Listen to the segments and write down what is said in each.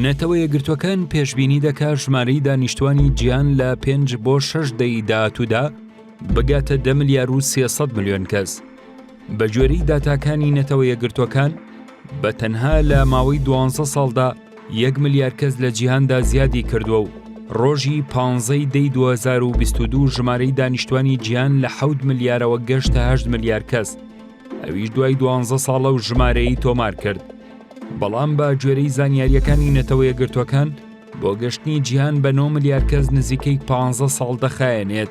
نەتەوە یەکگرتووەکان پێشبینی دەکا ژمارەی دانیشتوانی جیان لە پێنج بۆ شەش دەی داهاتوودا بگاتە دە ملیار و سێسەد ملیۆن کەس بە گوێرەی داتاکانی نەتەوە یەکگرتووەکان بە تەنها لە ماوەی دوانزە ساڵدا یەک ملیار کەس لە جیهاندا زیادی کردووە و ڕۆژی پانزەی دەی 2022 ژمارەی دانیشتوانی جیان لە حەوت ملیارەوە گەشتە هەشت ملیار کەس ئەویش دوای دوانزە ساڵە و ژمارەی تۆمار کرد. بەڵام بە گوێرەی زانیارییەکانی نەتەوە یەکگرتووەکان بۆ گەشتنی جیهان بە 9 ملیار کەس نزیکەی 15 ساڵ دەخایەنێت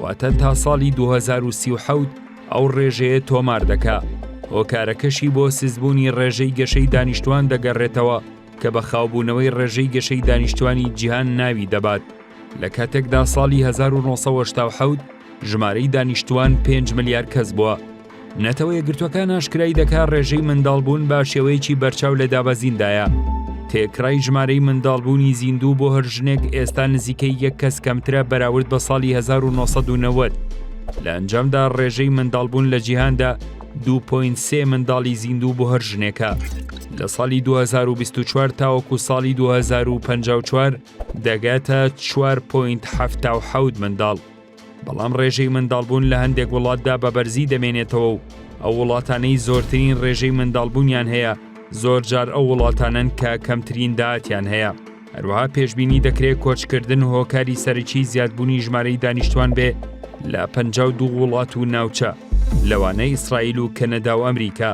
واتە تا ساڵی 2030 ئەو ڕێژەیە تۆمار دەکا هۆکارەکەشی بۆ سزبوونی ڕێژەی گەشەی دانیشتوان دەگەڕێتەوە کە بە خاوبوونەوەی ڕێژەی گەشەی دانیشتوانی جیهان ناوی دەبات لە کاتێکدا ساڵی 1970 ژمارەی دانیشتوان 5 ملیار کەس بووە نەتەوە یەکگرتووەکان ئاشکرای دەکات ڕێژەی منداڵبوون بە شێوەیەکی بەرچاو لە دابەزیندایە، تێکرای ژمارەی منداڵبوونی زیندوو بۆ هەر ژنێک ئێستا نزیکەی یەک کەس کەمترە بەراورد بە ساڵی 1990، لە ئەنجامدا ڕێژەی منداڵبوون لە جیهاندا 2.3 منداڵی زیندوو بۆ هەر ژنێکە لە ساڵی 2024 تاوەکو ساڵی 2054 دەگاتە 4.7 منداڵ. بەڵام ڕێژەی منداڵبوون لە هەندێک وڵاتدا بە بەرزی دەمێنێتەوە و ئەو وڵاتانەی زۆرترین ڕێژەی منداڵبوونیان هەیە زۆر جار ئەو وڵاتانن کە کەمترین داهاتیان هەیە هەروەها پێشببینی دەکرێت کۆچکردن هۆکاری سەرەکی زیادبوونی ژمارەی دانیشتوان بێ لە پ دو وڵات و ناوچە لەوانە ئیسرائیل و کەنەدا و ئەمریکا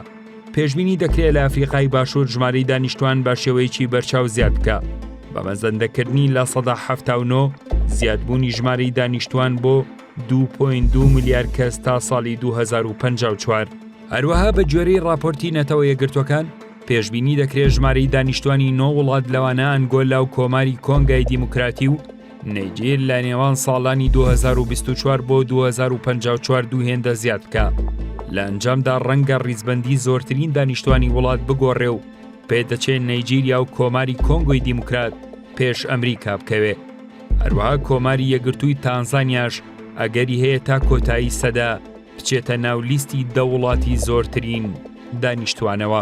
پێشبینی دەکرێت لە ئەفریقای باشوور ژماری دانیشتوان بە شێوەیەکی بەرچاو زیاد بکە بە مەزەندەکردنی لە سەدا هەفتاونۆ زیادبوونی ژماری دانیشتوان بۆ 2.2 ملیار کەس تا ساڵی 2054 هەروەها بە گوێرەی راپۆرتی نەتەوە یەگرتوەکان پێشببینی دەکرێت ژماری دانیشتوانی نۆ وڵات لەوانە ئەنگۆلا و کۆماری کۆنگای دیموکراتی و نێگیر لە نێوان ساڵانی 2024 بۆ 2054 دوو هێندە زیاد بکە لە ئەنجامدا ڕەنگە ڕیزبندی زۆرترین دانیشتوانی وڵات بگۆڕێ و پێدەچێت نەیجیریا و کۆماری کۆنگۆی دیموکرات پێش ئەمریکا بکەوێ هەروەها کۆماری یەگرتووی تانزانیاش ئەگەری هەیە تا کۆتایی سەدا بچێتە ناو لیستی دە وڵاتی زۆرترین دانیشتوانەوە.